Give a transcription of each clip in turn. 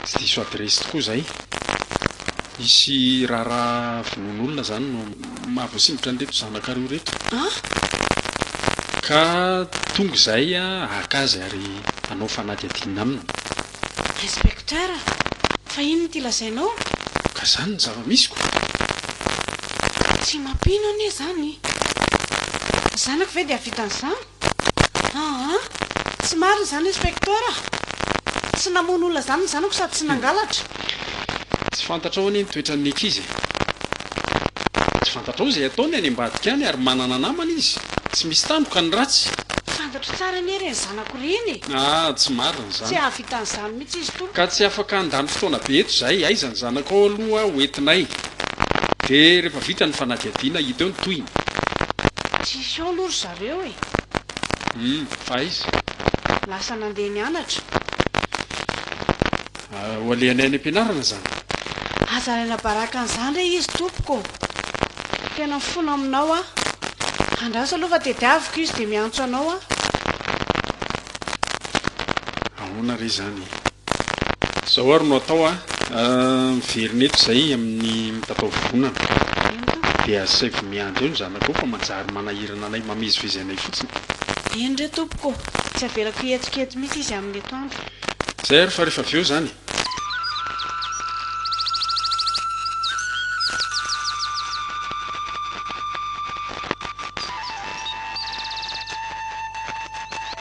Tsy diso adiresy tokoa izay. Hisy raharaha vonoan'olona izany no maha voasingotra an'ireto zanakareo ireto. Ka tonga izay haka azy ary hanao fanadihadiana aminy. Inspecteur, fa inona ity lazainao? Ka izany ny zava-misy ko! Tsy mampino anie izany. Ny zanako ve dia hahavita an'izany? Aa! Tsy marina izany inspecteur a! Tsy namono olona izany ny zanako sady tsy nangalatra. Tsy fantatrao anie ny toetran'ny ankizy e! Tsy fantatrao izay ataony any ambadika any ary manana namana izy. Tsy misy tandroka ny ratsy. Fantatro tsara anie ireny zanako ireny e! Aa! Tsy marina izany. Tsy hahavita an'izany mihitsy izy to. Ka tsy afaka handany fotoana be eto izahay. Aiza ny zanakao aloha ho entinay dia rehefa vita ny fanadihadiana hita eo ny tohiny. Tsisy eo aloha ry zareo. reo e! Humm aiza? Lasa nandeha nianatra. Ho alehanay any am-pianarana zany. Aza alaina baraka an'izany re izy tompoko ô! Tena mifona aminao aho. Andraso aloha fa tediaviko izy dia miantso anao aho. Ahoana re izany? Zao ary no atao a! Miverina eto izay amin'ny mitatao vovonana. Dia asaivo miandry eo ny zanako eo fa manjary manahirana anay, mamezivezy anay fotsiny. Eny re tompoko ô! Tsy avelako hihetsika eto mihitsy izy amin'ny atoandro. Izay ary fa rehefa avy eo izany.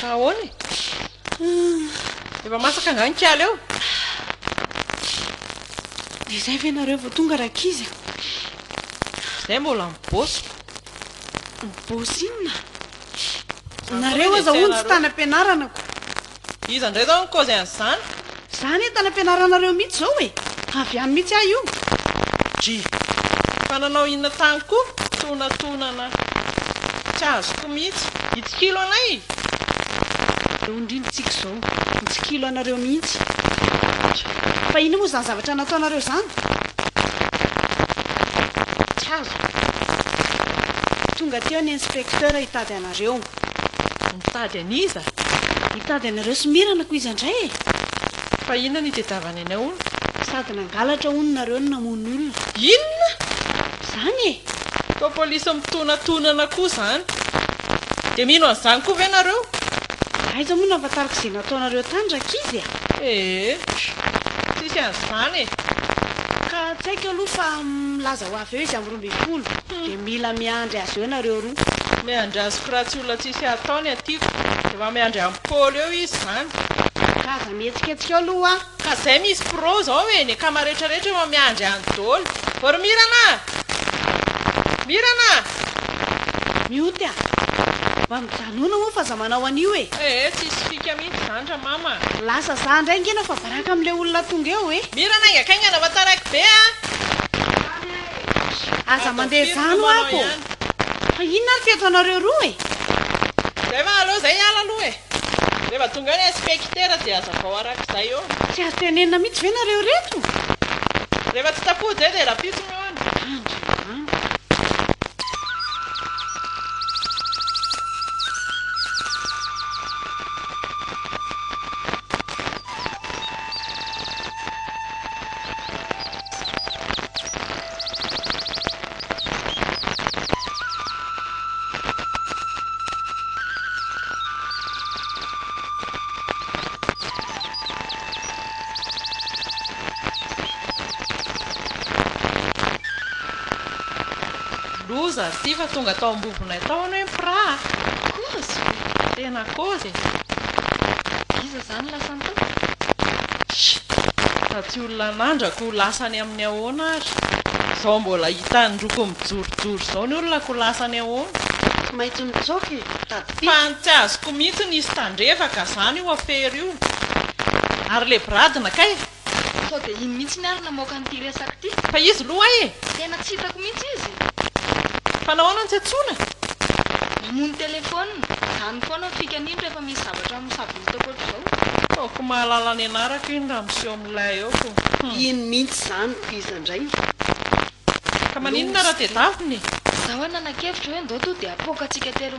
Fa ahoana e? Efa masaka angaha ny kiala eo? Dia izay ve nareo vao tonga rankizy a? Izay mbola mibôsy. Mibôsy inona? Nareo aza hono tsy tany am-pianarana ko. Iza indray izao no nikaozy an'izany? Za anie tany ampianaranareo mitsy zao e! Avy any mitsy ahy io! Dry, fa nanao inona tany koa? Tonatonana tsy azoko mitsy! Hitsikilo anay e! Aleo indrindra tsika izao mitsikilo anareo mihitsy! Dry, fa inona moa zany zavatra nataonareo zany? Tsy azoko! Tonga teo ny inspecteur hitady anareo! Mitady an'iza? Hitady anareo sy Mirana ko iza ndray e? Fa inona no itedavany anay hono? Sady nangalatra hono nareo no namono olona. Inona? Zany e! Koa polisy mitonatonana koa zany. Dia mino an'izany koa ve nareo? Aiza moa no ahafantarako izay nataonareo tany rankizy a! Ee! Tsisy an'izany e! Ka tsaiko aloha fa milaza ho avy eo izy am. ambin'ny folo dia mila miandry azy eo nareo roa. Miandry azy ko raha tsy olona tsisy atao ny atiko de mba miandry an'i Paolo eo izy zany. Ka aza mihetsiketsika eo aloha a. Ka zay misy pro zao e ny akama rehetra rehetra efa miandry any dolo. Ô ry Mirana a! Mirana a! Mioty a! Mba mijanona moa fa aza manao an'io e! Eh eh tsisy fika mihitsy zany ra mama a! Lasa za ndray ngeno fa baraka amin'ilay olona tonga eo e! Mirana aingakaingana fa taraiky be a! Aza mandeha zany hoa ko! Fa inona ary teto anareo roa e? Zay fa aleo zay hiala aloha e! Rehefa tonga eo ny inspekitera dia azavao arak'izay ô! Tsy azo tenenina mihitsy ve nareo reto? Rehefa tsy tapoha zay dia rapisony hono! Andriamanitra! Loza ity fa tonga tao ambobonay tao anie ny mpiraha a! Kozy! Tena kozy e! Iza zany? lasa ny tokony? Chut! Fa tsy olona nandra ko lasa any amin'ny ahoana ary? Izao mbola hitan'ny roko mijorojoro izao ny olona ko lasa any ahoana? Tsy maintsy mitsoaka e, mitady pika. Fa tsy azoko mihitsy nisy tandrevaka zany io afera io. Ary le bradina kay? Sao dia iny mihitsy ny ary namoaka an'ity resaka ity. Fa izy lo ay e! Tena tsy hitako mihitsy izy. Fa nahoana no tsy antsoina? Mamono telephone. Zany foana ny fikany iny rehefa misy zavatra misavoritaka ohatr'izao. Ataoko mahalala ny anarako iny raha miseho amin'ny lay eo ko. Hum. Iny mihitsy izany ko iza indray no. Ka maninona raha tedavina e? Za hoy nanan-kevitra hoe ndao to dia apoaka antsika telo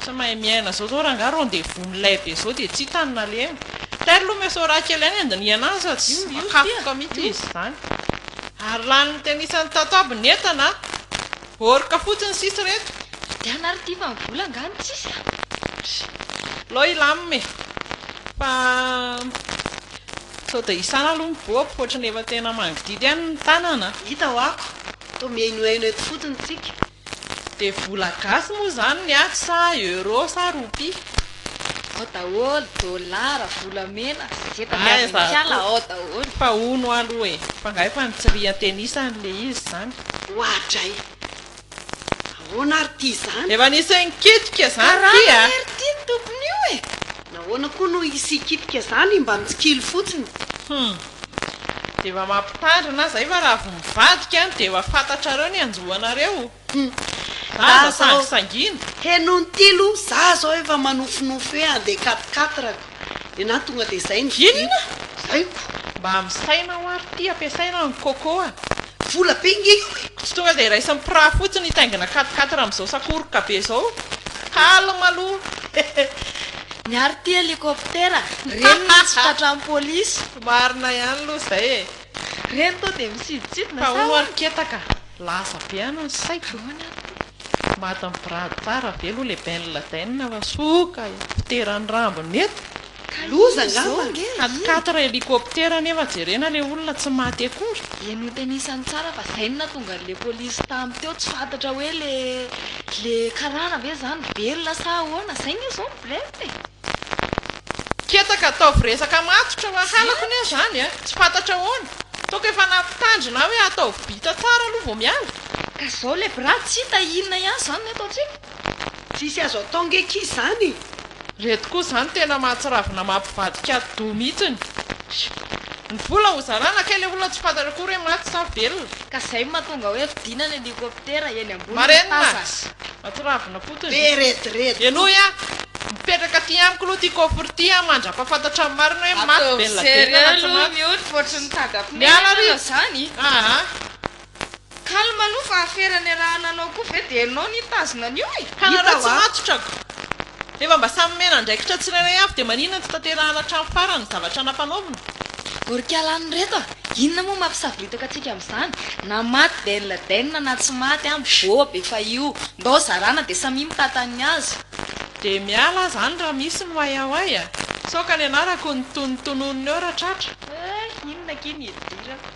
Tsy mahay miaina zao zao rangah rendez-vous milay be zao dia tsy hita ny nalemy. Tairo aloha mety ho raha kely ihany handinihana azy fa tsy voakapoka mihitsy izy izany. Ary lany ny tenisany tato aby ny entana a! Orca fotsiny sisa ireto. Vidiana ary ity fa ny vola angaha no tsisy a! Aleo hilamina e! Fa sao dia isana aloha ny bob ohatran'ny efa tena mangidihidy ihany ny tanana a! Hita ho'ako, toa mihainohaino eto fotsiny tsika. Dia vola gasy moa izany ny ahy sa euro sa roupie? Ao daholo, dollars, volamena, ze tadiavin'ny mpiala ao daholo. Fa hono aho aloha e! Fa nga efa nitsirian tennis any le izy izany? Oadray! Ahoana ary ity izany? Efa nisy nikitika izany ity a! Karana ry ity ny tompon'io e! Nahoana koa no hisy hikitika izany mba mitsikilo fotsiny? Hum! Dia efa mampitandrina zay fa raha vao mivadika dia efa fantatrareo ny hanjo anareo. Za aza sangisangiana. Heno ny tilo, za zao efa manofinofy hoe handeha quatre quatre ko. Nenaha tonga dia zay ny vidiana. Inona? Zay ko. Mba misaina hoa ry ty ampiasaina ny coco a. Vola be nge io e. Tsy tonga dia raisin'ny mpiraha fotsiny hitaingina quatre quatre amin'izao sakoroka be izao. Calme aloha. Miaro ity helicoptera. Reny no tsy tratran'ny polisy. Marina ihany loha zay e. Reny toa dia misidintsidina sa ahoana? Tahono ary ketaka. Lasa be any ny saiko. Ahoana ary ty? Maty mibirady tsara be aloha le Ben Laden fa soa ka helicoptera ny rambony eto. Loza angamba? Hany quatre helicoptera anefa jerena le olona tsy maty akory. Dia notenisany tsara fa zay no nahatonga an'le polisy tamy teo tsy fantatra hoe le. Le karana ve zany velona sa ahoana? Zay nge zao ny blem e! Ketaka ataovy resaka matotra hoa halako anie zany a! Tsy fantatra ahoana? Toaka efa nampitandrina ahy hoe ataovy bita tsara aloha vao miala. Ka zao le bra tsy hita inona ihany zany ny ataontsika? Tsisy azo atao nge ki zany e! Reto koa zany tena mahatsiravina maha mpivadika ady doha mihitsiny. Ny vola ho zarana kay le olona tsy fantatra akory hoe maty sa velona. Ka zay no mahatonga hoe vidina ny helicoptera eny ambony ny tazas. Matsiravina fotony. Be rediredy. Henoy a! Mipetraka aty amiko aloha ity coffre ity a, mandrapafantatra ny marina hoe maty Bella Bella na tsy maty. Ataovy seria aloha ny olona ohatry ny taga pneu ianao zany. Aa. Calme aloha fa afera niarahana anao koa ve dia ianao nitazona an'io e! Ka nareo tsy matotra ko! Rehefa mba samy omena andraikitra tsirairay avy dia maninona tsy tanterahana hatramin'ny farany ny zavatra nampanaovina? Gorka lany reto a! Inona moa mampisavoritaka antsika amin'izany? Na maty Ben Laden na tsy maty an! Bob efa io! Ndao zarana dia samia mitata ny azy! Dia miala aza any raha misy ny way away a! Sao ka nianarako ny tonony tononina eo ra tratra! Hay inona akia ny hidirana?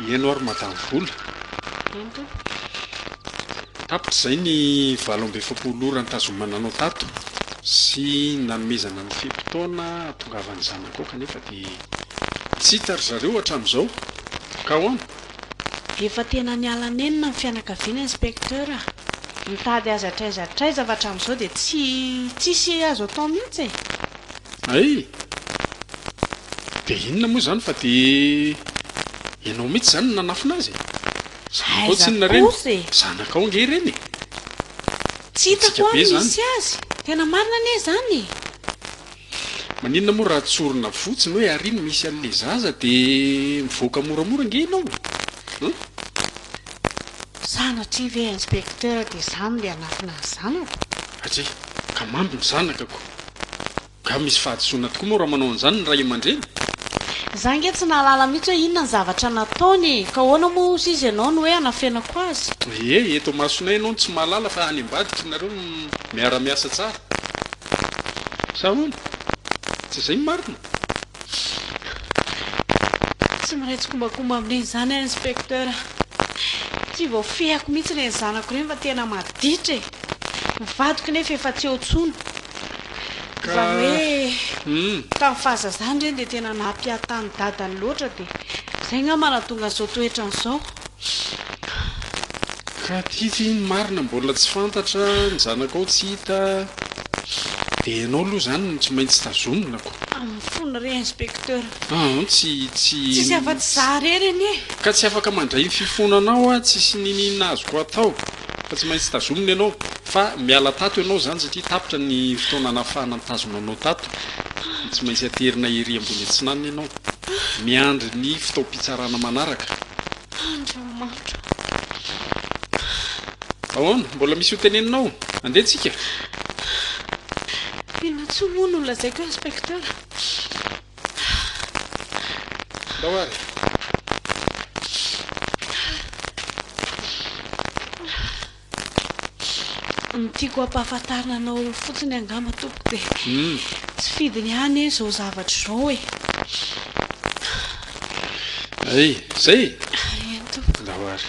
Mihaino ary Madame Vola. Tapitra izay ny valo amby efapolo ora nitazomana anao tato sy nanomezana ny fe-potoana hahatongavan'ny zanakao kanefa dia tsy hita ry zareo hatramin'izao ka ahoana? Efa tena niala nenina ny fianakaviana Inspecteur a! Mitady azy hatraiza hatraiza fa hatramin'izao dia tsy tsisy azo atao mihitsy e! Hay! Dia inona moa izany fa dia ianao mihitsy izany no nanafina azy e! Zanakao tsy inona ireny? Aiza kosa e! Zanakao ange ireny e! Tsy hitako ary misy azy! Tena marina anie izany e! Maninona moa raha tsorina fotsiny hoe ary iny misy an'ilay zaza dia mivoaka moramora ange ianao e! Hum? Sanatria ve Inspecteur dia izaho no le hanafina ny zanako? Atria, ka mamby ny zanakako! Ka misy fahadisoana tokoa moa raha manao an'izany ny ray aman-dreny? Za nge tsy nahalala mihitsy hoe inona ny zavatra nataony e! Ka ahoana moa osa izy ianao no hoe hanafenako azy? Ee, eto imasonay ianao no tsy mahalala fa any ambadika nareo no miara-miasa tsara. Sa ahoana? Tsy izay ny marina? Tsy mahay tsikombakomba amin'iny izany aho Inspecteur a! Tsy voafehiko mihitsy ireny zanako ireny fa tena maditra e! Ny vadiko nefa efa tsy eo intsony. Izany hoe tamin'ny fahazazany ireny dia tena nampiahatta an'i dadany loatra dia izay angamba nahatonga an'izao toetrany izao. Ka tiko iny ny marina mbola tsy fantatra, ny zanakao tsy hita, dia ianao aloha izany no tsy maintsy tazomina ko. Amin'ny fony re inspecteur. An, tsy, tsy. Tsisy afa-tsy izaho irery anie. Ka tsy afaka mandray ny fifonanao aho, tsisy n'inon'inona azoko atao. Fa tsy maintsy tazomina ianao. Fa miala tato ianao izany satria tapitra ny fotoana nahafahana nitazona anao tato. Tsy maintsy aterina ery ambony atsinanana ianao. Miandry ny fotoam-pitsarana manaraka. Andriamanitra. Ahoana? Mbola misy ho teneninao? Andeha tsika. Inona tsoa moa no lazaiko eo, Inspecteur? Ndao ary. Ny tiako hampahafantarina anao fotsiny angamba tompoko dia tsy fidiny any eh zao zavatra zao eh. Ay, zay e? Eny tompoko. Ndao ary.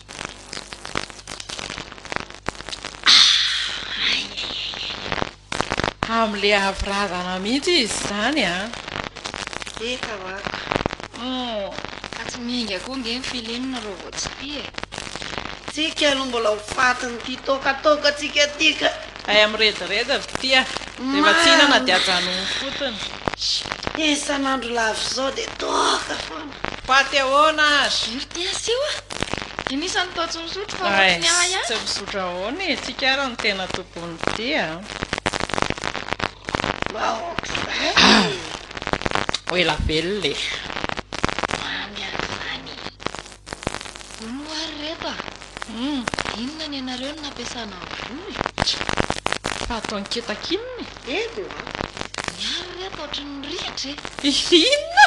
Hamle avy razana mihitsy izy izany a! Eka wako. Oh, fa tsy mihinga koa nge ny film rô vao tsy tia e. Tsika aloha mbola ho fatin'ity tôkatôkantsika ity ka. Hay mirediredy ry tia, rehefa tsy hihinana dia ajanony fotony. Isan'andro lavo izao dia toaka foana. Paty ahoana aza? RTS io a! Dinisa ny tao tsy misotro fa ohatry ny ahy ihany. Tsy misotro ahoana e? Tsika ary no tena tompon'ny tia a! Ho ela velona e! Mamy ary izany e! Vonoa ary ireto a! Inona ny anareo no nampiasana vola e? Fa ataony kitakinina e! Edo a! Miaro re ato ohatry ny rihitra e! Inona?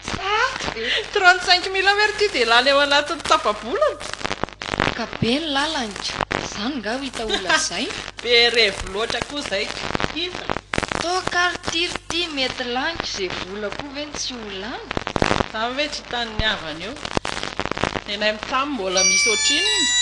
Sarotra be! Trente cinq mille aho ary ity dia lany ao anatin'ny tapa-bolana! Ka be ny lalany ka! Izany nga ho hita ho lazaina? Be revy loatra koa izay ka! Inona? Toaka ary ity ry ity mety laniko izay vola koa ve no tsy ho lany? Izany ve tsy hitan'ny havany eo? Nenay mitsam mbola misy ohatrinona?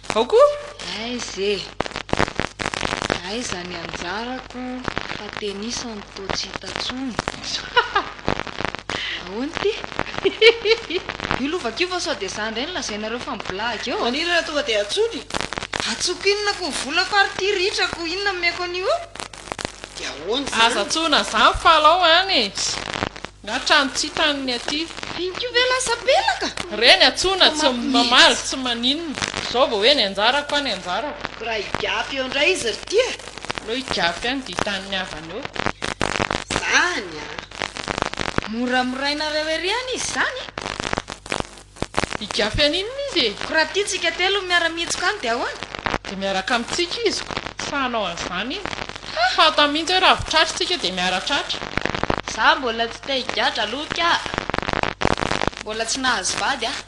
Ao koa? Aiza e! Aiza ny anjarako fa tenisany toa tsy hita tsony? Ahoana ity? Io lovaka io va sao dia za indray no lazainareo fa miblahaka eo? Maniry raha tonga dia antsoina e! Antsoiko inona ko ny vola fa ary ity ritra ko inona no omeko an'io eo? Dia ahoana izany? Aza antsoina izany fa alao any e! Na trano tsy trano ny aty. Inty ve lasa pelaka? Reny antsoina tsy mamaly tsy maninona. Zao vao hoe ny anjarako an ny anjarako. Ko raha higafy eo ndray izy ry ty a. Aleo higafy any dia hitan'ny havany eo. Izany a. Mora morainareo ery an izy izany a. Higafy aninona izy e? Ko raha tiantsika telo ny miara-mihitsoka any dia ahoana? Dia miaraka amintsika izy ko, sa hanao an'izany izy? Ha! Fantany mihitsy hoe raha avy tratra isika dia miara tratra. Za mbola tsy te higadra aloha ka! Mbola tsy nahazo vady aho!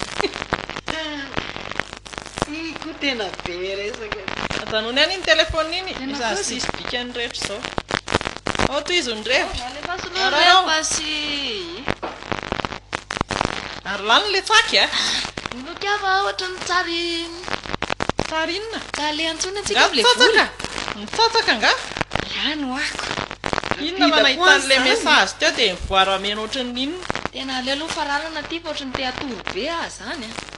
Ii ko tena be resaka e! Ajanony any iny telephone iny! Iza no sisy dikany rehetra izao? Ao tohizo ny revy! Alefaso aloha ny revy fa sy. Ary lany ilay tsaky a! Inoako aho fa ohatran'ny tsary Tsary inona? Tsary le antsoina antsika Angaha hoe vola. mitsatsaka? Mitsatsaka angaha? Lany ho ako. Inona raha nahita an'ilay message teo dia nivoaro hameno ohatran'ny inona? Tena aleo aloha fararana ity fa ohatran'ny te hatory be aho izany a!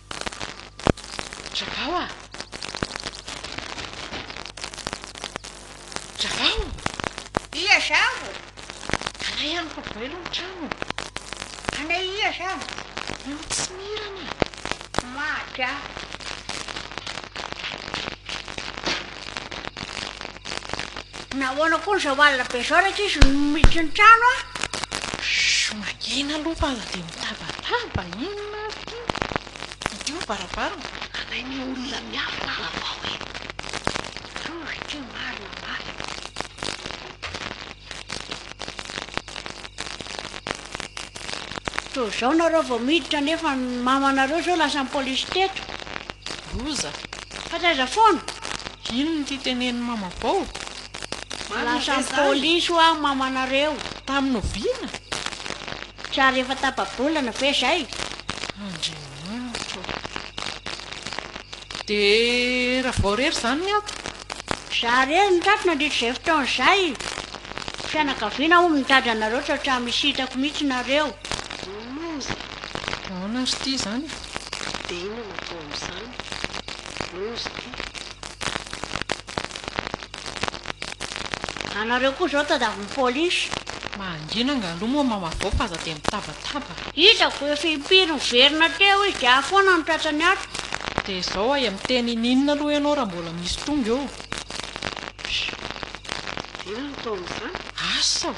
Ravao a! Ravao! Ia zavo? Anay amiko voaelo ny trano. Anay ia zavo? Eo tsy mirana. Maty aho. Nahoana koa izao alina be izao rehetra izy no miditra ny trano a? Shh, mangina aloha fa aza dia mitabataba, inona ary ity? Ity ny varavarana. Alain'ny olona miafina ary avao e! Tsory ity ny marina, marina. Toa izao nareo vao miditra nefa ny mamanareo izao lasan'ny polisy teto. Loza. Fa taiza foana? Inona ity tenenin'i mama bao? Lasa ny polisy hoa mamanareo. Tamin'ny oviana? Tsy ary efa tapa-bolana ve izay? Andriamanitra ô! Dia raha vao irery izany ny ato? Izaho irery no tato nandritra izay fotoana izay. Fianakaviana hono mitady anareo tsy hatramin'ny nisy hitako mihitsy nareo. Loza! Aona ry ty izany e? Dia inona no atao amin'izany? Rose ty. Anareo koa zao tadiavin'ny police. Mangina nga aloha moa mama vao fa aza dia mitabataba. Hitako efa impiry miverina teo izy dia ahy foana no tratrany ato. Dia izao aia miteny ininona aloha ianao raha mbola misy tonga eo. Pss. Dia inona no atao amin'izany? Asa o!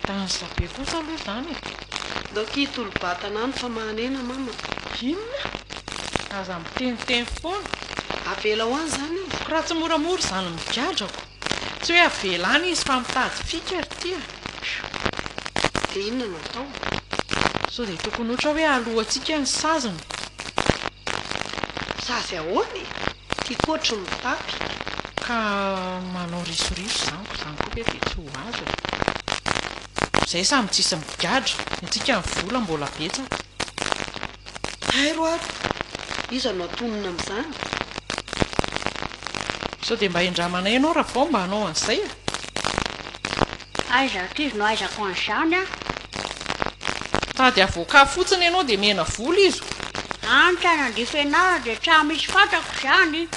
Danza be kosa aloha izany e! Ndao ki hitolo-batana any fa mahanena mama. Inona? Aza miteniteny foana. Avela ho any izany io. Ko raha tsy moramora izany migadrako. Tsy hoe avela any izy fa mitady fika ry ty a! Phew! Dia inona no atao? Sao dia tokony ohatra hoe alohantsika ny saziny. Sazy ahoana e? Tiako ohatry ny mitapy ka manao risoriso izany koa izany koa ve dia tsy ho azo e! Izay samy tsy hisy migadra, ny antsika ny vola mbola betsaka. Hay roado! Iza no hatonina amin'izany? Sao dia mba hendramanay ianao raha vao mba hanao an'izay e! Aiza ry kivy no aizako an'izany a! Tady avocat fotsiny ianao dia mihena vola izy o! Any tsy hanandria fianarana dia tsa misy fantako izany!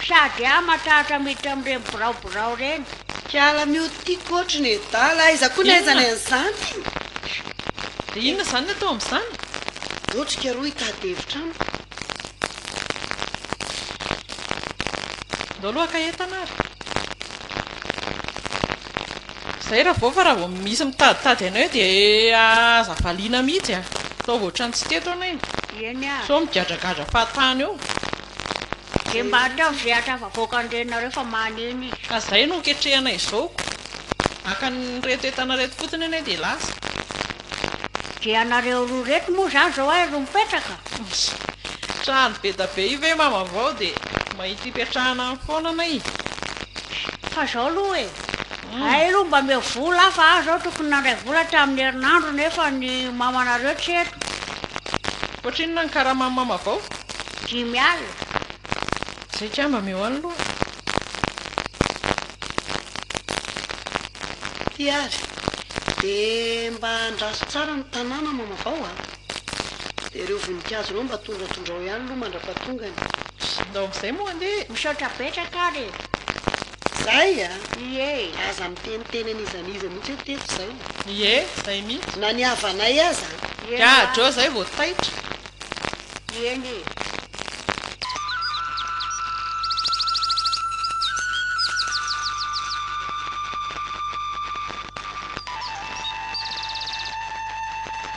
Sady aho matahotra miditra amin'ireny birao birao ireny! Kiala mioty coach nedala, aiza koa ny aizanay an'izany? Dia inona izany ny atao amin'izany? Otrika aloha hitady hevitra amiko! Ndao aloha haka entana ary! Izay raha vao fa raha vao misy mitaditady anao eo dia aza valiana mihitsy a! Ataovy ohatran'ny tsy teto ianao iny. Eny a! Sao migadragadra fahatany eo. Dia mba ataovy izay hahatafavoaka an'irenareo fa maneno izy. Ka izay no hoketrehana izao. Haka an'ireto entana ireto fotsiny ianao dia lasa. Dia ianareo roa ireto moa izany izao aiza no mipetraka? Trano be da be io ve mama vao dia mahita ipetrahana any foana anay? Fa zao aloha e, hay aloha mba omeo vola aho fa aho zao tokony nandray vola hatramin'ny herinandro nefa ny mamanareo tsy eto. Ohatrinona ny karaman'i mama vao? Dimy alina. Zay kay mba meo any loha. Ty ary, dia mba andraso tsara ny tanàna mama vao a. Dia ireo voninkazo ireo mba tondratondrao ihany aloha mandra-pahatongany. Ndao amin'izay moa andeha. Misaotra betsaka ary e. Zay a! Ie. Aza miteniteny an'iza n'iza mihitsy hoe teto zao. Ie, zay mihitsy. Na ny havanay aza a! Gadra zay vao taitra. Ie nge.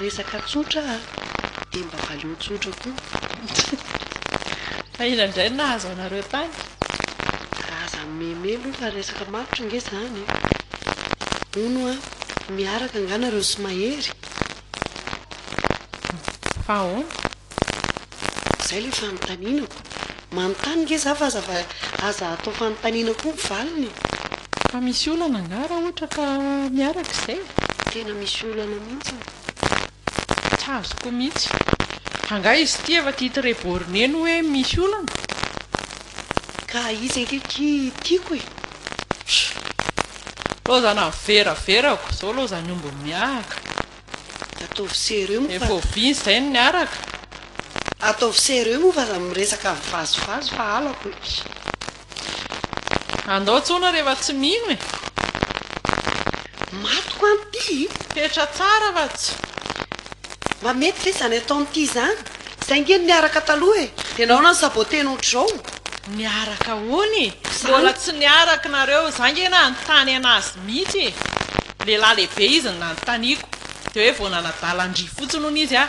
Resaka tsotra a! Dia mba valeo tsotra koa. Fa inona indray no nahazo anareo tany? Razan'i Meme aloha fa resaka matotra ange izany e! Hono a! Miaraka angaha nareo sy Mahery? Fa ahoana? Izay ilay fanontanianako. Manontany nge za fa aza aza atao fanontaniana koa ny valiny e! Fa misy olana angaha raha ohatra ka miaraka izay? Tena misy olana mihitsiny. Tsy azoko mihitsy. Angaha izy ity efa tia très borné no hoe misy olana? Ka izy ange ity tiako e! Lozana ny vera verako izao lozan'ny omby miahaka. Ataovy sérieux moa fa. Efa oviana izay ny niaraka. Ataovy sérieux moa fa za miresaka mivazivazy fa halako e. Andao tsona rehefa tsy mino e. Maty ko an ty! Fetra tsara va tsy? Mba mety ve izany ataony ity izany? Izay nge no niaraka taloha e! Dia nahoana no saboter-ny ohatr'izao? Niaraka hono e! Mbola tsy niaraka nareo, za nge nanontany anazy mihitsy e! Lehilahy lehibe izy no nanontaniako, dia hoe vao nanadala an-dry fotsiny hono izy a!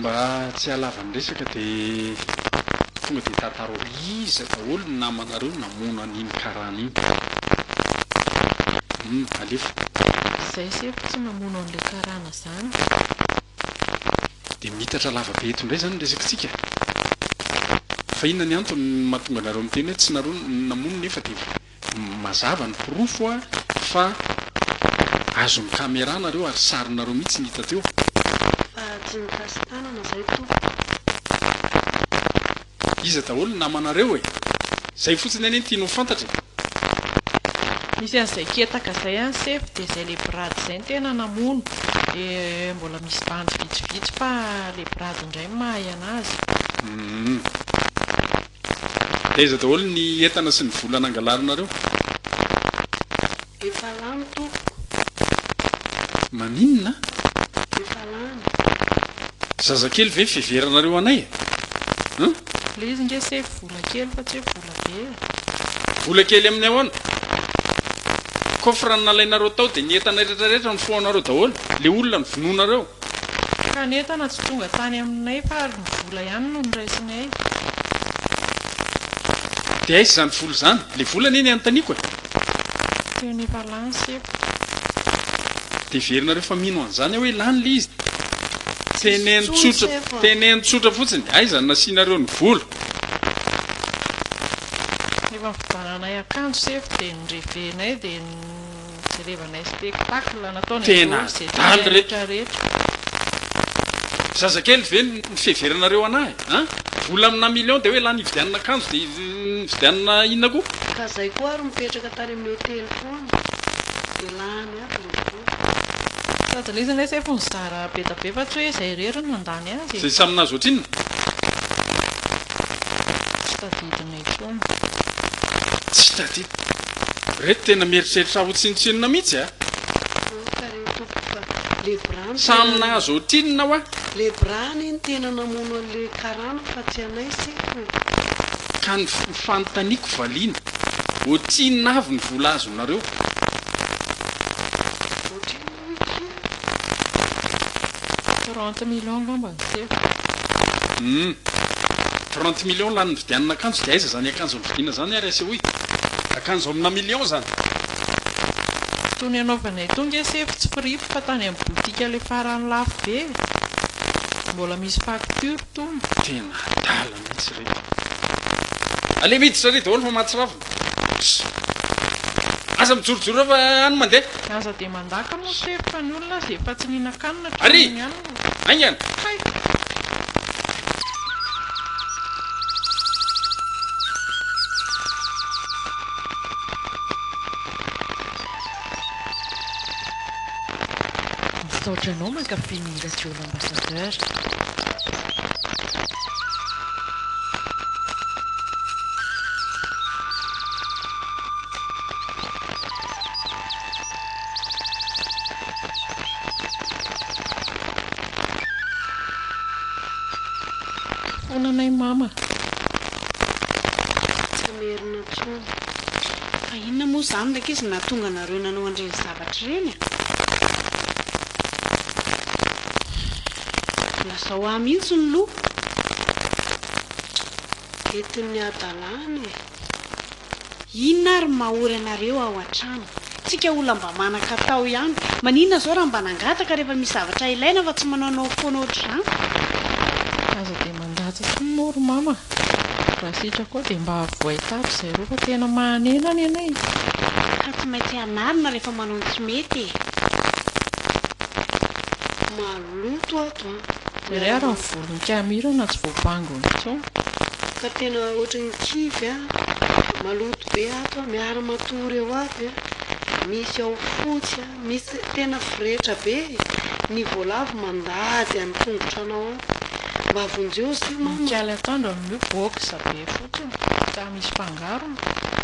Mba tsy hahalava ny resaka dia tonga dia tantarao iza daholo ny namanareo namono an'iny karana iny. Humm alefa. Zay sefo tsy namono an'le karana zany. Dia miitatra lava be eto indray izany ny resakitsika. Fa inona ny antony mahatonga anareo miteny hoe tsy nareo no namono nefa dia Mazava ny porofo a fa azon'ny camera nareo ary sarinareo mihitsy ny hita teo. Fa tsy mikasy tanana zay tompoko. Iza daholo ny namanareo e? Zay fotsiny anie ny tiany ho fantatra e. Misy an'izay ketaka zay any sefo dia zay le brady zay ny tena namono dia mbola misy bandy vitsivitsy fa le brady indray no mahay anazy. Humm. Aiza daholo ny entana sy ny vola nangalarinareo? Efa lany tompoko. Maninona? Efa lany. Zazakely ve fiheveranareo anay e? Hum? Ilay izy nge sefo vola kely fa tsy hoe vola be e. Vola kely amin'ny ahoana? Coffre nalainareo tao dia ny entana retraretra nofohanareo daholo? Le olona novonoinareo? Ka ny entana tsy tonga tany aminay fa ary ny vola ihany no noraisinay. Dia aiza izany vola izany? Ilay vola anie ny anontaniako e! Teo ny valanseko. Dia heverinareo fa mino an'izany aho hoe lany ilay izy? Teneno tsotra, teneno tsotra fotsiny, aiza no nasianareo ny vola? Efa nividiananay akanjo sefo dia ny revenay dia. Jerevana spectacle nataony aloha ze tianay rehetra rehetra. Zazakely ve ny fiheveranareo anah e? An? Vola amina million dia hoe lany hividianana akanjo dia hividianana inona koa? Ka zay koa ary mipetraka tany amin'ny hotely foana dia lany aby le vola. Sady lezany letsy efa nizara bedabe fa tsy hoe zay irery no nandany azy e. Zay samy nahazo ohatrinona? Tsy tadidinay. intsony. Tsy tadidy. Reto tena mieritreritra ho tsinontsinona mihitsy a! Aoka re tompoko fa le bran Samy nahazo ohatrinona hoa? Le bra anie no tena namono anle karana fa tsy anay sefo e! Ka ny ny fanontaniako valiana, ohatrinona avy ny vola azonareo? Ohatrinona? Trente millions ngamba no seho. Humm. Trente millions lany nividianana akanjo dia aiza zany akanjo novidiana zany ary asehoy? Akanjo amina millions zany. Itony anaovanay itony nge sefo tsy firipy fa tany amin'ny boutique ilay farany lafo be e! Mbola misy facture tony. Tena adala mihitsy ireto. Aleo miditra re daholo fa mahatsiravina. Aza mijorojoro eo fa any mandeha. Aza dia mandaka moa tsy haiko fa ny olona aza efa tsy nihinan-kanina hatramin'iny ihany no. Ary! Haingana! Hay! Misaotra anao mankafy ny radio. Foana anay mama. Tsy merina intsony. Fa inona moa izany ilay ankizy nahatonga anareo nanao an'ireny zavatra ireny? Hatrireny a! Lazao ahy mihitsy ny loha. Entin'ny hadalana e! Inona ary ny mahory anareo ao an-trano? Tsika olona mba manan-katao ihany. Maninona izao raha mba nangataka rehefa misy zavatra ilaina fa tsy manaonao foana ohatr'izany? Mandatsa sy mino ry mama a! Raha sitrako ao dia mba avohay tato izay roa fa tena mahanena any anay e! Ka tsy maintsy hanarina rehefa manao ny tsy mety e! Maloto ato an! Dia re ary ny volon'i Kamirana tsy voabango intsony. Ka tena ohatry ny kivy a! Maloto be ato an! Miara-matory eo aby a! Misy ao fotsy a! Misy tena firehetra be ny voalavo mandady any tongotra anao ao. Mba vonjeo zio mama. Mikali atoandro amin'io box be fotsiny ka misy fangarony.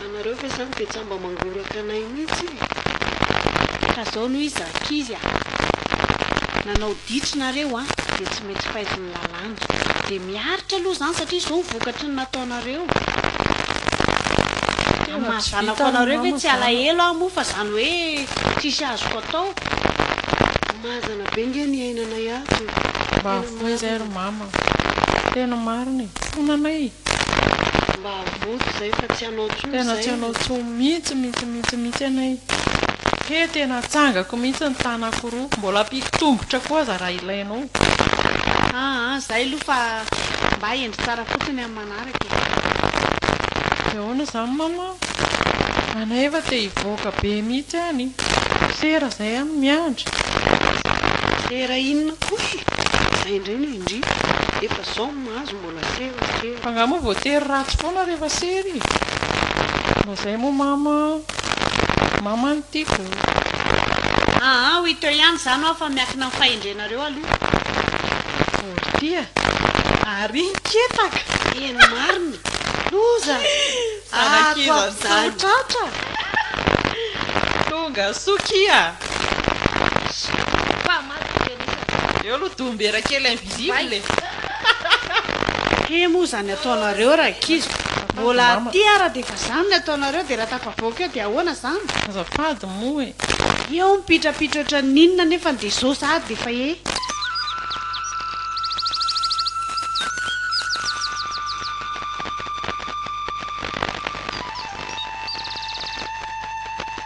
Anareo ve zany de tsa mba mangoraka anay mitsy e. Ka zao no izy ankizy a. Nanao ditch nareo a de tsy mety faiz. ny lalàna. Dia miaritra aloha izany satria izao ny vokatry ny nataonareo. Amin'ny maha zanako anareo ve tsy alahelo aho moa fa izany hoe tsisy azoko atao. Mahazana be nge ny iainanay ato e. Mba avoa izay ry mama. Tena marina e. Fona anay e. Mba avoa ry zay fa tsy hanao tsony zay. Tena tsy hanao tsony mintsy mintsy mintsy mintsy anay. He tena atsangako mintsy ny tanako roa. Mbola ampiako tongotra koa aza raha ilaina. Aoh aa zay aloha fa mba hendry tsara fotsiny amin'ny manaraka e. De ahoana izany Mama? Anay efa te hivoaka be mihitsy any. Sera izay an, miandry. Sera inona koa e? Zay indray no indrindra. Efa zao ny mahazo mbola. F'angaha moa voatery ratsy foana rehefa sery e? Mba zay moa mama a! Mama no tiako o! Aa hoy teo ihany izany hoa fa miankina amin'ny fahendrenareo aloha. Vory tia! Ary iny kepaka! Eny marina! Loza! Zanak'iza izany? Ato ato ato tratra! Tonga soa kia! Mpamaly dia anisan'izany. Eo aloha dombera kely invisible e! He moa zany ataonareo rankizy Mbola aty ara dia efa zany ny ataonareo dia raha tafavoaka eo dia ahoana zany? Azafady moa e. Eo mipitrapitra ohatran'ny inona nefany dia zao sahady dia efa he.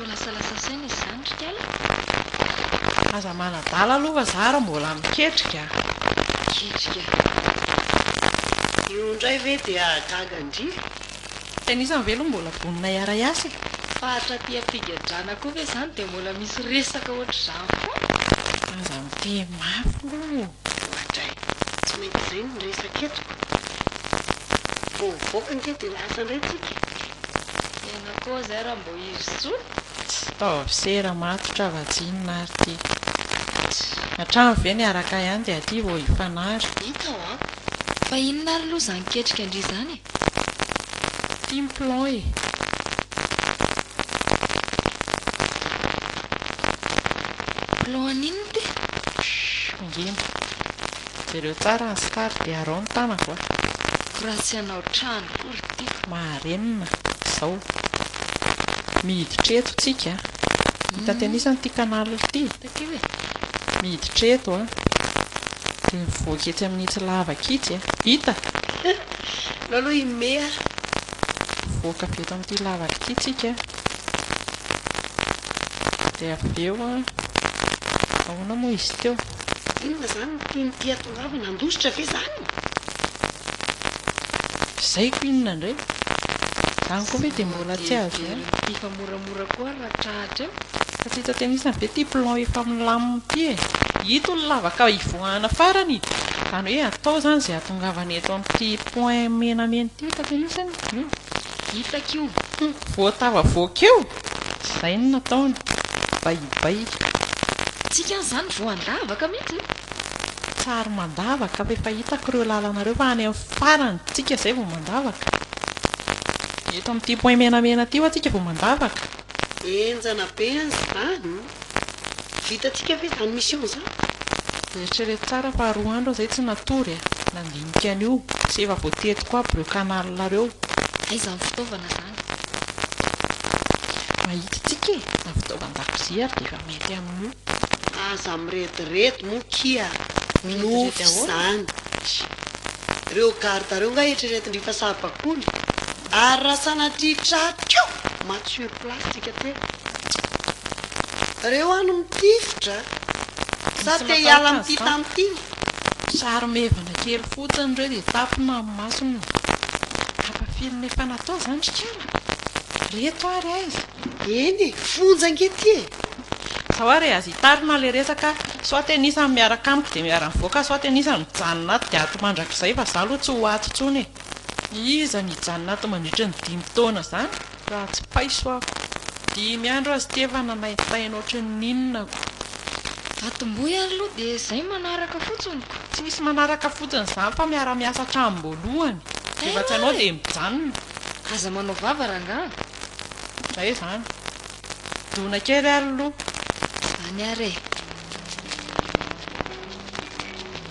Ho lasalasa saina izy izany ry kala. Aza manadala aloha fa za ary mbola miketrika a! Miketrika a! Io indray ve dia gaga ndry? Tenisany ve aloha mbola vonona hiara-hiasa e? Faritra aty am-pigadrana koa ve izany dia mbola misy resaka ohatr'izany foana? Aza miteny mafy aloha e! Ohatra e! Tsy mety izay no resaka eto. Vao mivoaka ange dia lasa indray tsika e! Miaina koa zay Rambohirisoa. Tsy taovisera matotra va tsinona ary ty. Hatrany ve niaraka ihany dia aty vao hifanary. Hita hoa. Fa inona ary loha zany ketrika ndry zany e. Tim plon e. Plon an'inona ty? Ngina. Jereo tsara ny star dia arao ny tanako a. Ko raha tsy hanao trano ko ry tiako. Maharenina izao. Miditra eto tsika a. Hitatenisa an ity canal ity. Miditra eto a. Dia mivoaka etsy amin itsy lavaka itsy a. Hita? Aleo aloha i Mea. Mivoaka avy eto amin ity lavaka ity tsika a. Dia avy eo an, ahoana moa izy teo? Inona izany no toy ny tia tongava, nandositra ve izany? Izay ko inona indray? Izany koa ve dia mbola tsy azo ihany? Tsy very fifa moramora koa ary raha trahatra eo? Fa tsy hita tennis ve ity plan efa milamina ity e? Ito ny lavaka hivoahana farany e! Izany hoe atao izany izay hatongavana eto amin'ity point menamena ity, hita tennis anie? Hitako io. Humm voatavavoaka eo? Izay no nataony. Baibaika. Tsika any izany voandavaka mihitsy e. Tsary mandavaka fa efa hitako ireo lalana ireo fa any amin'ny farany tsika izay vao mandavaka. Eto amin'ity point menamena ity hoa tsika vao mandavaka. Enjana be an izany. Vitantsika ve zany mission zany? Eritrereto tsara fa roa andro aho zay tsy natory a! Nandinika an'io, sy efa voatediko aby reo canal reo. Aiza ny fitaovana zany? Mahita tsika e! Zany fitaovan-dakozia ary dia efa mety amin'io. Aza mirediredy moa kia! Minovy izany! Reo garde reo nga eritreretin-dry fa saribakoly? Ary raha sanatria tratra eo maty sur place tsika telo. Reo any mitifitra sa te hiala amin'ity tany ity ve? Sary maivana kely fotsiny reo dia tapina amin'ny masony. Kapa film efa natao izany ry kala? Reto ary aiza? Eny e, fonja ange ity e! Zao ary e, aza hitarina ilay resaka, soit ten isany miaraka amiko dia miara-mivoaka soit ten isany mijanona ato dia ato mandrakizay fa za aloha tsy ho ato intsony e! Iza no hijanona ato mandritra ny dimy taona izany raha tsy paiso aho? Dimy andro aza ity efa nanaitaina ohatry ny inona ko. Atombohy aloha dia izay manaraka fotsiny ko. Tsy misy manaraka fotsiny izany fa miara miasa hatramin'ny voalohany. Rehefa tsy anao dia mijanona. Aza manao vava rangaha. Izay izany. Dona kely ary aloha. Izany ary e.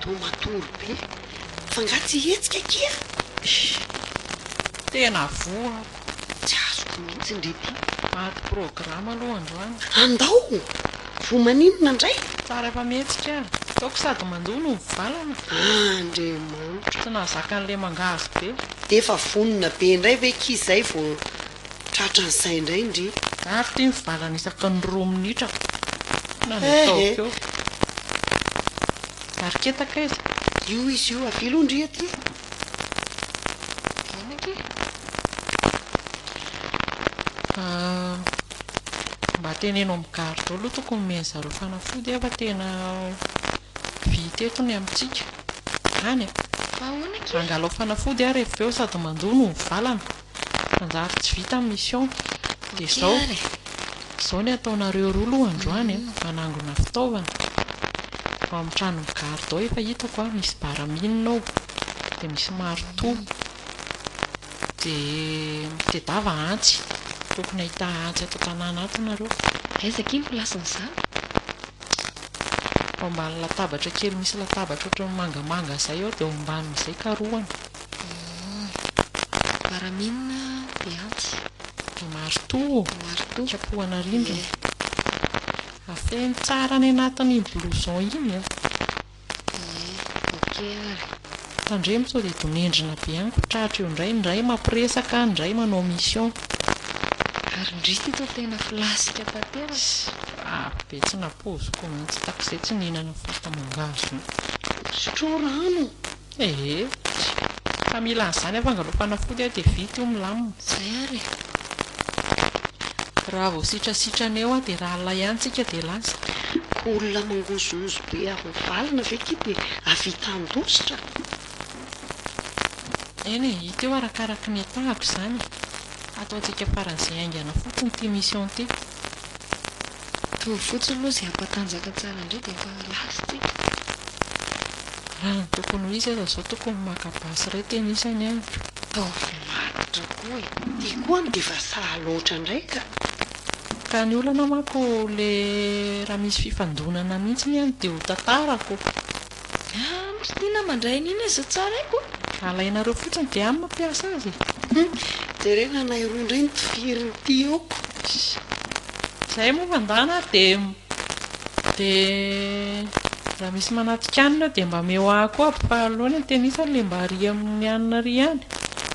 Toa matory be fa nga tsy hihetsika akia eh! Tena voako. Tsy azoko mihitsy ndry ity. Maty programme aloha androany. Andao! Voa maninona ndray? Tsara efa mihetsika ary. Ataoko sady mandoa no mivalana. Andriamanitra. Tsy nahazaka an'le mangahazo be. D'efa vonona be ndray ve ki zay vo Tratra ny sahy indray ndry. Ary ity ny valany isaky ny roa minitra foana no ataoko eo. Mariketaka aiza? Io izy io, avia aloha ndry aty e. Eny akia. Mba teneno amin'ny garde ao aloha tokony omen'ny zareo fanafody fa tena vita eto ny amintsika. Any e. Angalaho fanafody ary avy eo sady mandoa no ho valana. Manjary tsy vita ny mission. Dia izao, izao ny ataonareo roa aloha androany an, manangona fitaovana, ao amin'ny tranon'ny garde ao efa hitako an, misy baraminina ao, dia misy marteau, dia mitedava antsy, tokony hahita antsy ato an-tanàna ato nareo. Aiza akia ny place-n'izany? Ao ambany latabatra kely misy latabatra ohatran'ny mangamanga izay ao dia ao ambanin'izay karohana. Baramina dia atsy. Dia maritoa. Maritoa. Kapohana arindrina. Afeno tsara any anatin'iny blouson iny an. Ie. Ok ary. Tandremo sao dia donendrina be any ko tratra eo indray, ny iray mampiresaka, ny iray manao mission. Ary ndry ity toa tena filasika tanteraka. Avo be tsy napoiziko mihitsy, takizay tsy nihinana fahita mangahazo. Sotroy rano Ee, fa mila an'izany aho fa angalao fanafody aho dia vita io milamina. Izay ary e! Raha vao sitrasitrana eo aho dia ralina ihany tsika dia lasa. Olona mangozohozo be avy mivalona ve ity dia hahavita handositra? Eny e, hita eo arakaraky ny tahako izany e! Hataontsika faran'izay haingana fotsiny ity mission ity. Mitovy fotsiny aloha izay hampatanjaka tsara indray dia efa last iny. Raha ny tokony ho izy aza izao tokony maka basy iray tenisany aho. Ataovy matotra koa e. Ity koa any dia efa sahy loatra indray ka. Ka ny olana manko ilay raha misy fifandonana mihitsy ny any dia ho tantarako. Aah misy liana mandray an'iny aza zao tsara aiko a! Alainareo fotsiny dia any mampiasa azy e! Jereo fa anay roa indray no tifirin'ity eo. Izay moa fa ndana ary dia dia raha misy manatikanina eo dia mba ameo ahy koa aby fa aleo ny an-tenisany ilay mba ary amin'ny anona ary ihany.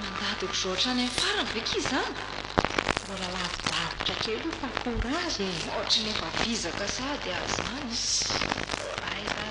Mandadik'izao hatrany amin'ny farany ve akia izany? Mbola lavidavitra kely io fa courage e! Ohatry ny efa vizaka sahady aza izany.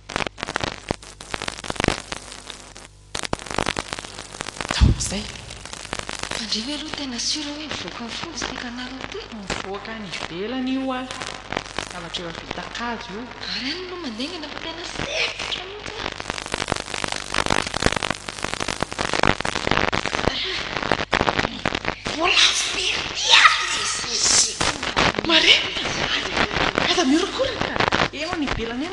Tandremo aloha tena sur hoe mivoaka ny fonja ity canal ity? Mivoaka any ivelany io ah. Zavatra eo avita kajo io. Ary any aloha mandengana fa tena sempotra mihitsy ah. Mbola very ihany izy. Marina izany. Aza miorokoraka. Eo any ivelany any.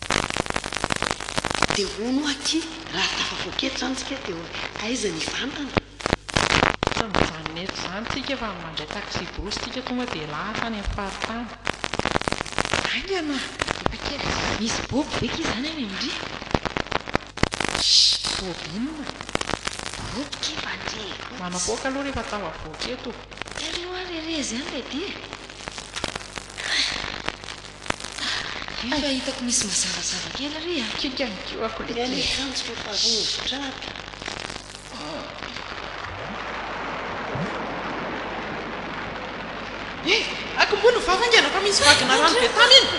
Dia hono hoa aky, raha tafavoaka eto izany tsika dia hoe aiza ny vantana? Efa mijanona eto izany tsika fa mandray taxi-brousse tsika tonga dia lahatra any amin'ny faritany. Aingana a! Efa kely. Misy boby ve aky izany any aoriana? Shh! Boby inona? Boby kiva ndry e! Manapoaka aloha rehefa tafavoaka eto. Telo noa re re izany ve dia? Io fa hitako misy mazavazava kely ry a! Kiaka ny kihoako lehibe. Ny an'ny akanjoko efa rovitra aby. He! Akombony ny vava ange rafa misy vagina rano be tany iny!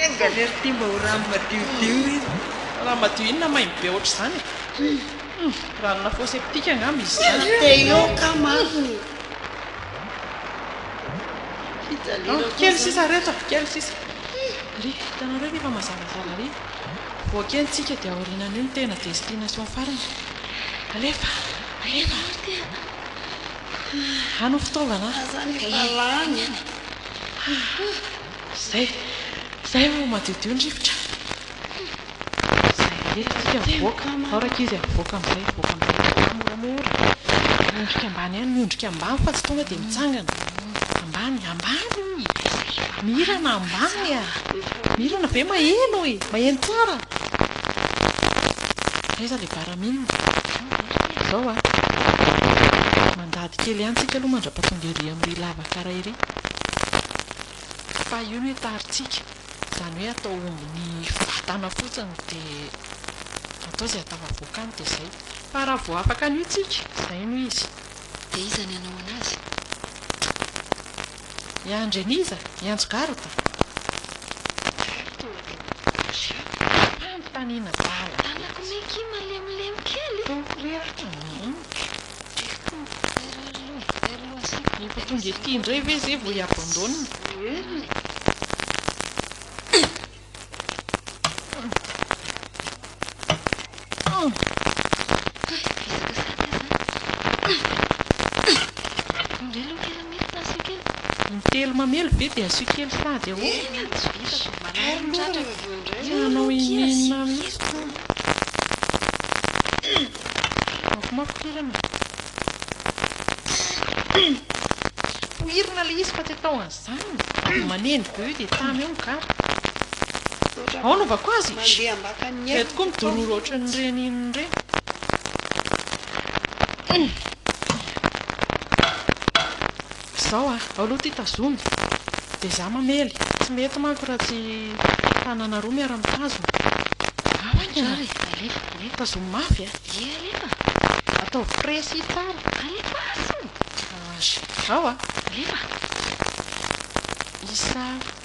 Enga anie ry ty mba ho rano madiodio iny! Rano madio inona maimbo be ohatr'izany e! Ranona fosse ptique angamba izy izany! Te-hiôka marina e! Andro kely sisa reto andro kely sisa. Ry, hitanareo ve fa mazavazava ry. Vao kely tsika dia aorianan'io ny tena destination farany. Alefa, alefa. Any ho fitaovana a. Zay, zay vao madiodio ny rivotra. Zay ela tsika mivoaka zao rankizy a mivoaka amizay mivoaka amizay mivoaka moramora miondrika ambany any miondrika ambany fa tsy tonga dia mitsangana ambany ambany hoy mirana ambany a mirana ve maheno hoy maheno tsara aiza le baramine zao a mandady kely any tsika aloha mandrapatonga ery amry lavakara ery Fa io no hetarintsika. Izany hoe atao omby ny vatana fotsiny dia atao izay atao avoakany dia izay. Fa raha vao afaka an'io tsika, izay no izy. Dia iza ny hanao an'azy? Hiandry an'iza? Hiantso garde? Garde eo aloha. Mpanintaniana bala. Tanako mikim malemilemy kely. Tao aoriana. Efa tonga ety indray ve izay vao hi-abandonne? Intelo mamely ve dia asio kely sady ahoana? Tianao hihinana mihitsy. Mafimafy toerana. Poirina ilay izy fa tsy atao an'izany. Dia manendy be eo dia tamy eo ny gara. Aona ovako azy? Mandeha ambakan'ny Izahay tokoa midororo ohatran'ireny inona ireny. Izao a! Ao aloha ity tazomy. Dia izaho mamely. Tsy mety manko raha tsy tanana roa miara-mitazona. Ao any ianao e! Alefa, alefa. Tazomy mafy e! Ie, alefa. Ataovy frais sy tsara. Alefa aho! Ao a! Alefa. Isa.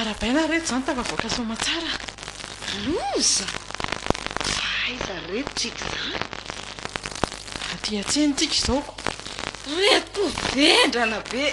Arahabaina re izany tafavoaka Soamatsara. Loza! Fa aiza re tsika izany? Aty an-tsena tsika izao ko. Reto vendrana be.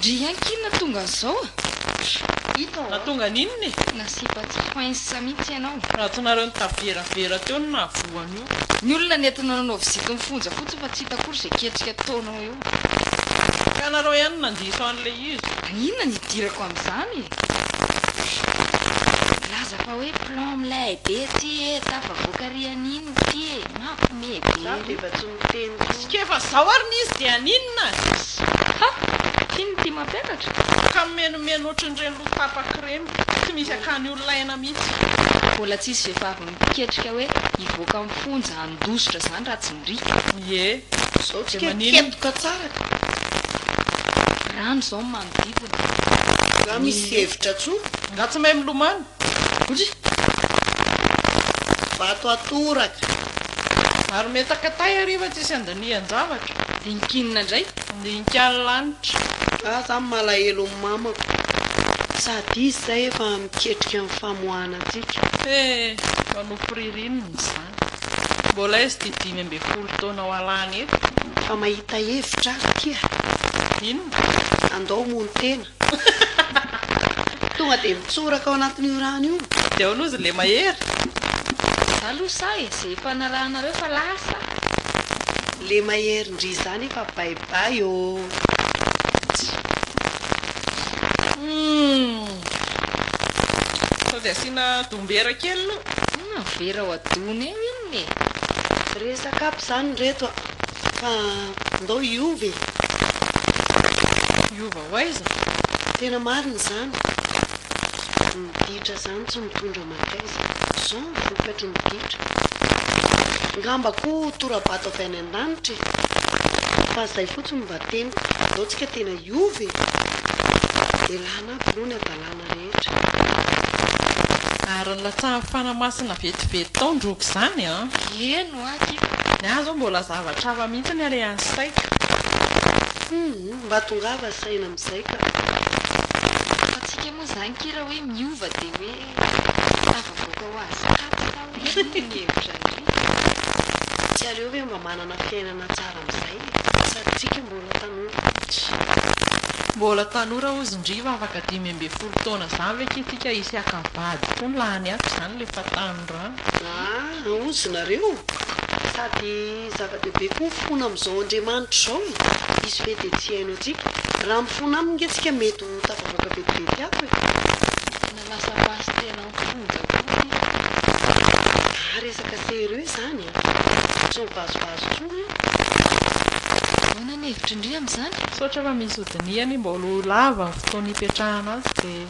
Dry an kin natonga an'zao a! Hitan'o a! Natonga an'inona e? Nasipa tsy foinsa mihitsy ianao. Raha tsy nareo nitaveravera teo no nahavoa an'io. Ny olona nentina nanao vizity ny fonja fotsiny fa tsy hita akory izay ketrika ataonao eo. Ka nareo ihany no nandiso an'ilay izy. Inona no hidirako amin'izany e? Milaza fa hoe plan milay be ity e, tafavoaka ry an'iny ity e, mampme be ry. Tsikefa fa zao ary ny izy dia haninona azy. Ha! Tiany ity mampianatra. Ka mimenomeno ohatrin'ireny loha tapaka ireny. Tsy misy akany olona aina mihitsy. Mbola tsy hisy vehivavy miketrika hoe hivoaka amin'ny fonja handositra izany raha tsy mirika. Ie, zao dia maninonoka tsara ka. Rano izao no manodidina. Nga misy hevitra tsoa? Nga tsy mahay milomano? Vato atoraka. Ary metaka tay hariva tsisy andanian-javatra. Dinkinina indray dinkan'ny lanitra. Fa za malahelo ny mamako. Sady izy zay efa miketrika ny famoahana antsika. He, fa nofy ririnina izany. Mbola izy ity dimy ambin'ny folo taona ho alany eto. Fa mahita hevitra aza ity a. Inona? Andao homono tena. Tonga dia mitsoraka ao anatin'io rano io. Dia ao lozy le mahery. Za lo sahy e, ze efa narahanareo fa lasa. Le mahery ndry zany efa bye bye oo. Sao dia asiana dombera kely lo. Inona ny vera ao adony eo inona. Marina e! Resaka aby izany reto a! Fa ndao hiova e! Hiova ho aiza? Tena marina izany! Ny ditra izany tsy mitondra mankaiza! Izao ny vokatry ny ditra! Ngamba koa ho tora-bato avy any an-danitra e! Fa izay fotsiny no mba teniko! Ndao tsika tena hiova e! Elana aby aloha ny hadalana rehetra! rehetra. Ary nilatsahan'ny fanahy masina vetivety tao ny roko izany an! Eny ho'a ty. Ny ahy izao mbola zavatra hafa mihitsy ny alehan'ny saiko. Humm, mba tongava saina amin'izay ka. Fa antsika moa izany kira hoe miova dia hoe tafavoaka ho azy kato sa hoe inona ny hevitra ndry? Tsy aleo ve mba manana fiainana tsara Amin'izay sady tsika mbola tanora mihitsy. Mbola tanora hozin-driva afaka dimy ambin'ny folo taona zany ve ky tsika hisy haka vady koa ny lahany hafa izany le fa tanorano. Aah ozy nareo sady zava-dehibe koa mifona amin'izao Andriamanitra izao e! Izy ve dia tsy hihaino antsika? Raha mifona aminy nge tsika mety ho tafavoaka vetivety hafa e! Lasa pasitera am-ponja koa sisa. Zah resaka sérieux zany e! Tsy mivazovazo tsony aho. Ahoana ny hevitry ndry amin'izany? Misaotra fa misy hodinihany, mbola ho lava ny fotoana hipetrahana azy dia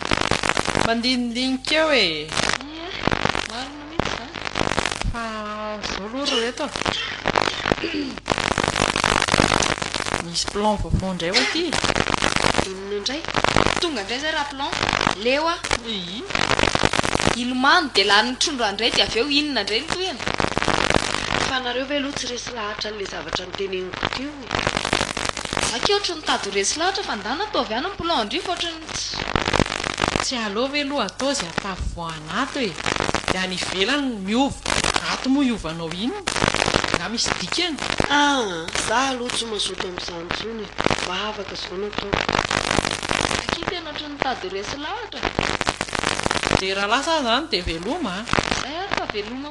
mandinidinika eo e! Ie, marina. marina mihintsy izany fa izao aloha ry reto a, misy plan vaovao indray ho aty e. Inona indray? Tonga indray izay raha plan? Leo a! Iii. Hilomano dia lanin'ny trondro any indray dia avy eo inona indray ny tohiny? Fa nareo ve aloha tsy resy lahatra an'ilay zavatra noteneniko teo? Za key ohatry ny mitady ho resy lahatra fa ndana toa avy any ny plan andrifa ohatry ny tsy. Tsy aleo ve loha atao izay atafy vao any ato e! Dia any ivelany no miova. Ato moa hiovanao inona? Nga misy dikany? Ah! Za aloha tsy mazoto amin'izany intsony e! Vavaka izao no ataoko. Za key tena ohatry ny mitady ho resy lahatra. Dia raha lasa aza any dia veloma a! Izay ary fa veloma.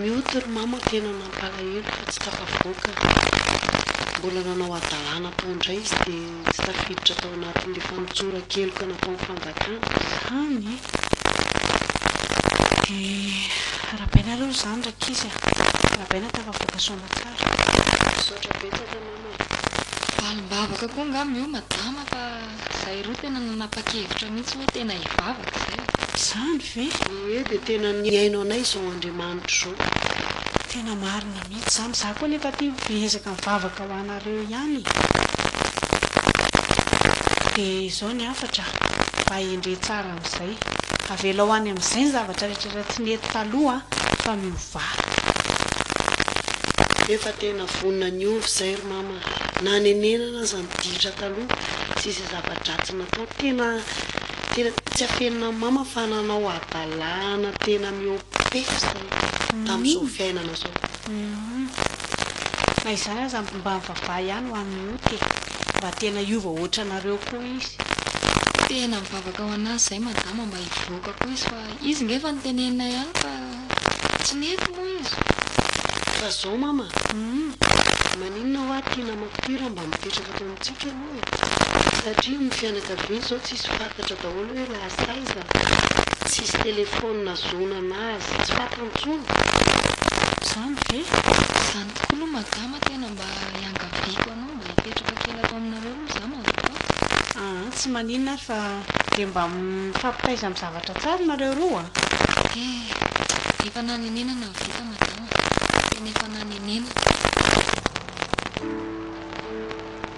Mioty ry mama tena mampalahelo fa tsy tafavoaka Mbola nanao hadalana tao indray izy dia tsy tafiditra tao anatin'ilay fanotsoran-keloka nataon'ny fanjakana. Hany dia rabaina aloha izany rankizy a! Rabaina tafavoaka soamantsara. Misaotra betsaka namana. Valim-bavaka koa angamba io madama fa izahay roa tena nanapa-kevitra mihitsy hoe tena hivavaka izay. Izany ve? Hoe dia tena nihaino anay izao Andriamanitra izao. Tena marina mihitsy izany. Izaho koa anefa aty miezaka mivavaka ho anareo ihany e. Dia izao ny hafatra, mba hendre tsara. amin'izay. Avelao any amin'izay ny zavatra rehetra tsy nety taloha fa miovà. Efa tena vonona ny hiova izay ry mama a! Na nenenana aza ny ditra taloha sy izay zava-dratsy natao. Tena tena tsy afenina an'i mama fa nanao hadalàhana tena mihoa-pefy izay tamin'izao fiainana izao. Humm. Na izany aza mba mivavaha ihany ho an'i Ot e. Mba tena hiova hoatranareo koa izy. Tena mivavaka ho anazy izay madama mba hivoaka koa izy fa izy nge efa notenenina ihany fa tsy nety moa izy. Fa zao mama, maninona hoa ty namako ty raha mba mipetraka eto amintsika aloha e. satria ny fianakaviany izao tsisy fantatra daholo hoe lasa aiza, tsisy telephone nazonana azy, tsy fantany intsony. Zany ve? Zany tokoa aloha madama tena mba iangaviako anao mba hipetraka kely ato aminareo aloha za mazotoa. Aa tsy maninona ary fa dia mba mifampitaiza amin'ny zavatra tsara nareo roa a! Ehh efa nanenenana ny vita madama a! Tena efa nanenenana.